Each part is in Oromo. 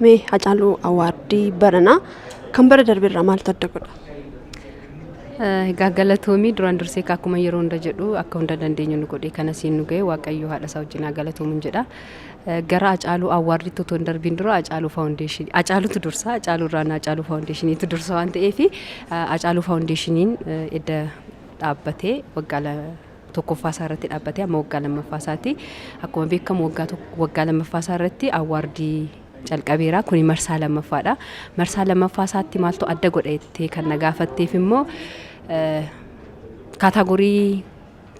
Mee Hacaaluu Awaardii baranaa kan bara darbe irraa maaltu adda godha? Eh, Egaa galatoomii duraan dursee egaa akkuma yeroo hunda jedhu akka hunda dandeenyu nu godhee kana siin nu ga'e waaqayyo haadha isaa wajjin haa galatoomu hin jedha. Eh, Gara Hacaaluu Awwaardiitti otoo hin darbiin dura Hacaaluu Faawundeeshinii Hacaaluutu dursa Hacaaluu irraan Hacaaluu Faawundeeshiniitu dursa waan ta'eef Hacaaluu Faawundeeshiniin eh, edda dhaabbatee waggaa la- tokkoffaa isaa irratti dhaabbatee amma waggaa lammaffaa isaati. Akkuma beekamu waggaa tokko- waggaa lammaffaa isaa irratti awwaardii calqabeera. Kuni marsaa lammaffaadha. Marsaa lammaffaa isaatti maaltu adda godha jettee kan na gaafatteef immoo eh, kaataagorii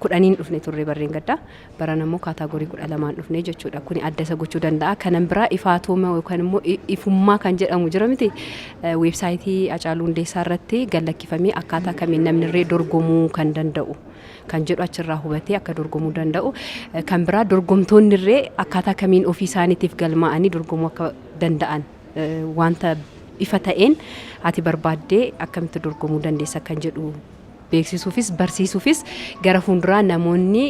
kudhaniin dhufne turre barreen gaddaa. Baran ammoo kaataagorii kudha lamaan dhufne jechuudha. Kuni adda isa gochuu danda'a. Kanan biraa ifaatooma yookaan immoo i- ifummaa kan jedhamu jira miti. Eh, Weebsaayitii Hacaaluu Hundeessaa irratti gallakkifamee akkaataa kamiin namni irree dorgomuu kan danda'u. kan jedhu achirraa hubatee akka dorgomuu danda'u. Kan biraa dorgomtoonni irree akkaataa kamiin ofii isaaniitiif galmaa'anii dorgomuu akka danda'an wanta ifa ta'een ati barbaaddee akkamitti dorgomuu dandeessa kan jedhu beeksisuufis barsiisuufis gara fuulduraa namoonni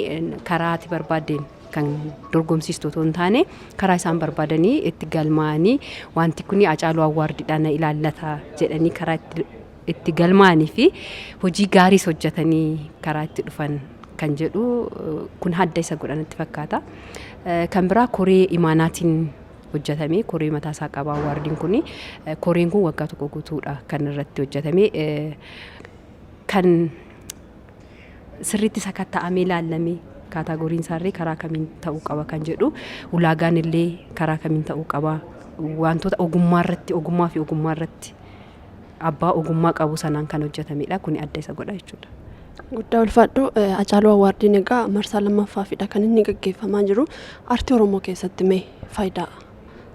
karaa ati barbaaddeen kan dorgomsiistu otoo hin taane karaa isaan barbaadanii itti galmaa'anii wanti kun Hacaaluu Awwaardiidhaan na ilaallata jedhanii karaa itti itti galmaa'anii fi hojii gaariis hojjetanii karaa itti dhufan kan jedhu kun hadda isa godha natti fakkaata. Kan biraa koree imaanaatiin hojjetamee koree mataa isaa qaba waardiin kun koreen kun waggaa tokko guutuudha kan irratti hojjetame kan sirriitti sakatta'amee ilaallamee kaataagoriin isaarree karaa kamiin ta'uu qaba kan jedhu ulaagaan illee karaa kamiin ta'uu qaba wantoota ogummaa irratti ogummaa fi ogummaa irratti abbaa ogummaa qabu sanaan kan hojjetamedha. Kuni adda isa godha jechuudha. Guddaa ulfaadhu Acaaluu Awwaardiin egaa marsaa lammaffaafidha kan inni gaggeeffamaa jiru. Artii Oromoo keessatti mee faayidaa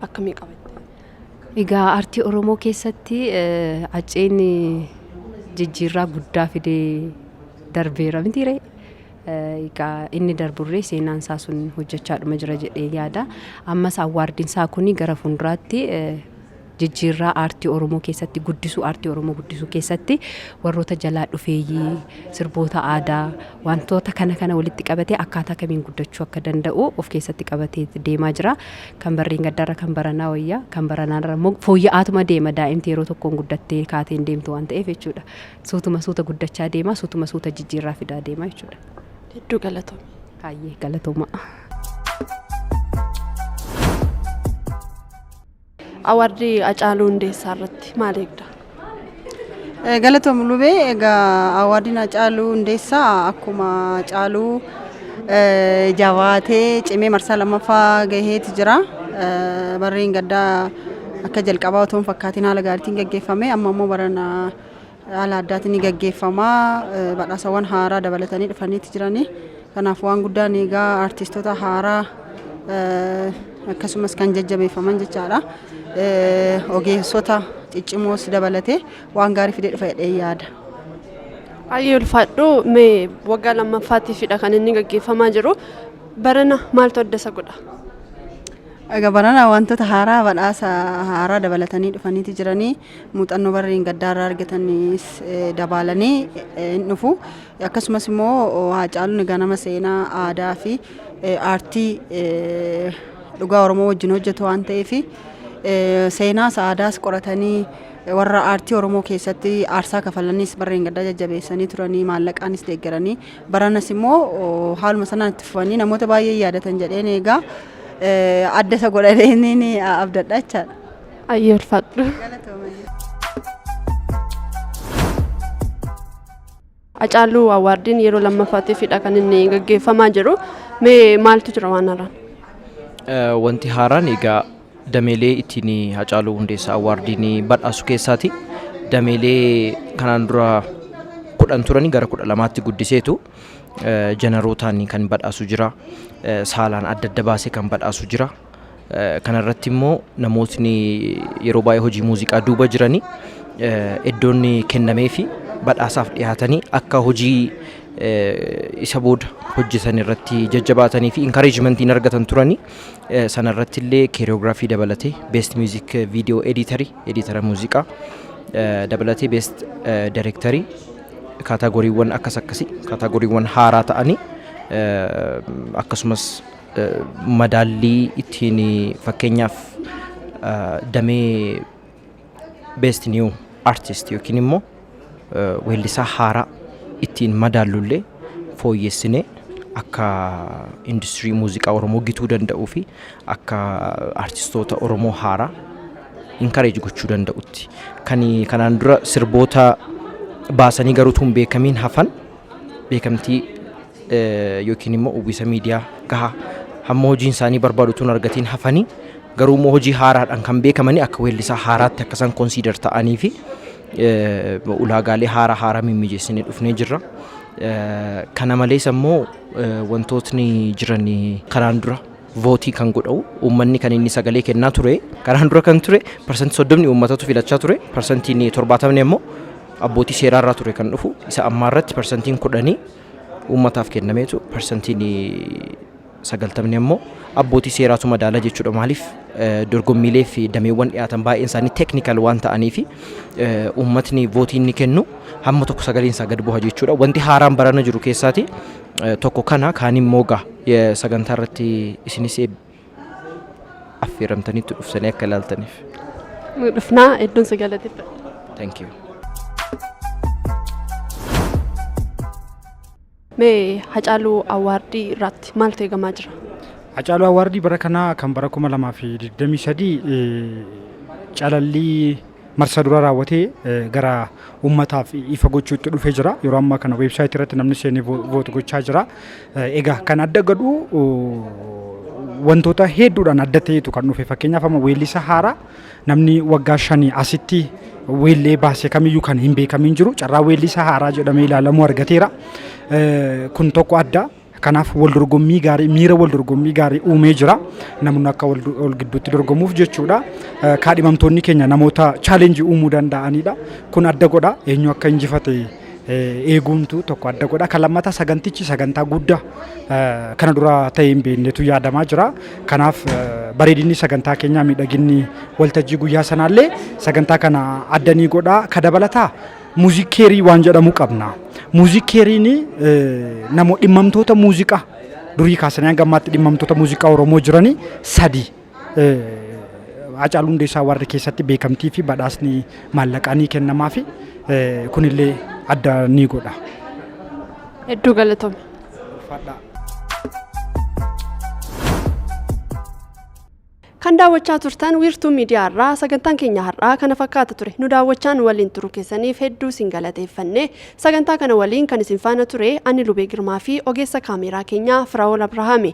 akkamii qaba? Egaa artii Oromoo keessatti Hacceen jijjiirraa guddaa fidee darbeera mitiiree? Egaa inni darburree seenaan isaa sun hojjechaadhuma jira jedhee yaada. Ammas awwaardiin isaa kun gara fuulduraatti jijjiirraa aartii Oromoo keessatti guddisuu aartii Oromoo guddisuu keessatti warroota jalaa dhufeeyyii sirboota aadaa wantoota kana kana walitti qabatee akkaataa kamiin guddachuu akka danda'u of keessatti qabatee deemaa jira. Kan barreen gaddaarra kan baranaa wayya kan baranaarra immoo fooyya'aatuma deema daa'imti yeroo tokkoon guddattee kaateen deemtu waan ta'eef jechuudha. Suutuma suuta guddachaa deema suutuma suuta jijjiirraa fidaa deema jechuudha. Hedduu galatoome. Kaayyee galatooma. Awaardii Hacaaluu Hundeessaa irratti maal eegda? Galatoom Lubee egaa awaardiin Hacaaluu Hundeessaa akkuma Hacaaluu jabaatee cimee marsaa lammaffaa gaheeti jira. Barreen gaddaa akka jalqabaa otoo hin fakkaatiin haala gaariitiin gaggeeffame amma immoo barana Haala addaatiin ni gaggeeffama. Badhaasawwan haaraa dabalatanii dhufaniiti jiranii. Kanaaf waan guddaan eegaa artiistota haaraa akkasumas kan jajjabeeffaman jechaadha. Ogeessota ciccimoos dabalatee waan gaarii fidee dhufa jedhee yaada. Ayyee ulfaadhu mee waggaa lammaffaatiifidha kan inni gaggeeffamaa jiru. Barana maaltu adda isa godha? Egaa barana wantoota haaraa badhaasa haaraa dabalatanii dhufaniiti jiranii. muuxannoo bara dheengaddaa irraa argatanis dabaalanee hin dhufu. Akkasumas immoo Haacaaluun ganama seenaa aadaa fi aartii dhugaa Oromoo wajjin hojjetu waan ta'eef seenaas aadaas qoratanii warra aartii Oromoo keessatti aarsaa kafalanis bara dheengaddaa jajjabeessanii turanii maallaqaanis deeggaranii baranas immoo haaluma sanaan itti fufanii namoota baay'ee yaadatan jedheen eegaa adda isa godhadheen abdadha jechaadha. Ayyee ulfaadhu. Hacaaluu Awwaardiin yeroo lammaffaatiifidha kan inni gaggeeffamaa jiru. Mee maaltu jira waan haaraan? Eh, Wanti haaraan egaa dameelee ittiin Hacaaluu Hundeessaa Awwaardiin badhaasu keessaati. Dameelee kanaan dura kudhan turanii gara kudha lamaatti guddiseetu eh, jenerootaan kan badhaasu jira. Eh, Saalaan adda adda baasee kan badhaasu jira. Eh, Kana irratti immoo namootni yeroo baay'ee hojii muuziqaa duuba jiranii eh, iddoon kennamee fi badhaasaaf dhiyaatanii akka hojii eh, isa booda hojjetan irratti jajjabaatanii fi inkareejimentiin argatan turanii eh, sana irratti illee keeriyoogiraafii dabalatee beest miuzik viidiyoo editarii editara muuziqaa eh, dabalatee beest eh, direktarii kaataagoriiwwan akkas akkasii kaataagoriiwwan haaraa ta'anii eh, akkasumas madaallii ittiin fakkeenyaaf damee best new artist yookiin immoo weellisaa haaraa ittiin madaallullee fooyyessinee akka industirii muuziqaa Oromoo gituu danda'uu fi akka artistoota Oromoo haaraa inkareeji gochuu danda'utti. Kan kanaan dura sirboota baasanii garuu tun beekamiin hafan beekamtii yookiin immoo uwwisa miidiyaa gahaa hamma hojiin isaanii barbaadu utuu hin argatiin hafanii garuu immoo hojii haaraadhaan kan beekamanii akka weellisaa haaraatti akka isaan konsiidar ta'anii fi ulaagaalee haaraa haaraa mimmijeessinee dhufnee jirra. Kana malees ammoo wantootni jiran karaan dura vootii kan godhau uummanni kan inni sagalee kennaa ture karaan dura kan ture parsantii soddomni uummatatu filachaa ture parsantiin torbaatamni ammoo abbootii seeraa irraa ture kan dhufu isa ammaa irratti parsantiin kudhanii uummataaf kennameetu parsantiin sagaltamni ammoo abbootii seeraatu madaala jechuudha. Maaliif dorgommiilee fi dameewwan dhiyaatan baay'een isaanii teeknikal waan ta'anii fi uummatni vootii inni kennu hamma tokko sagaleen isaa gad bu'a jechuudha. Wanti haaraan barana jiru keessaati tokko kana kaan immoo gaa sagantaa irratti isinis affeeramtaniittu dhuftanii akka ilaaltaniif. Nu dhufnaa hedduun si galateeffadha. Thank you. Mee Hacaaluu Awwaardii irratti maaltu eegamaa jira? Hacaaluu Awwaardii bara kanaa kan bara 2023 calallii marsaa duraa raawwatee gara uummataaf ifa gochuutti dhufee jira. Yeroo ammaa kana weebsaayitii irratti namni seenee voot gochaa jira. Egaa kan adda godhu wantoota hedduudhaan adda ta'etu kan dhufe fakkeenyaaf amma weellisa haaraa namni waggaa shanii asitti weellee baase kamiyyuu kan hin beekamin jiru carraa weellisa haaraa jedhamee ilaalamuu argateera. Kun tokko adda. Kanaaf wal dorgommii gaarii miira wal dorgommii gaarii uumee jira. Namoonni akka wal wal gidduutti dorgomuuf jechuudha. Eh, Kaadhimamtoonni keenya namoota chaalenjii uumuu danda'anidha. Kun adda godha eenyu akka injifate eh, eeguuntu tokko adda godha. Kan lammataa sagantichi sagantaa guddaa eh, kana dura ta'ee hin beeknetu yaadamaa jira. Kanaaf eh, bareedinni sagantaa keenyaa miidhaginni waltajjii guyyaa sanaallee sagantaa kana adda ni godha. Ka dabalataa Muuziik keerii waan jedhamu qabna. Muuziik keeriin namoota dhimmamtoota muuziqaa durii kaasanii hanga ammaatti dhimmamtoota muuziqaa Oromoo jiranii sadii Hacaaluu Hundeessaa warri keessatti beekamtii fi badhaasni maallaqaa ni kennamaa fi kunillee adda ni godha. Hedduu galatoomi. Fadhaa. Kan daawwachaa turtan wiirtuu miidiyaa irraa sagantaan keenya har'aa kana fakkaata ture. Nu daawwachaa nu waliin turuu keessaniif hedduu isin galateeffanne. Sagantaa kana waliin kan isin faana ture ani Lubee Girmaa fi ogeessa kaameeraa keenyaa Firaa'ol Abrahaami.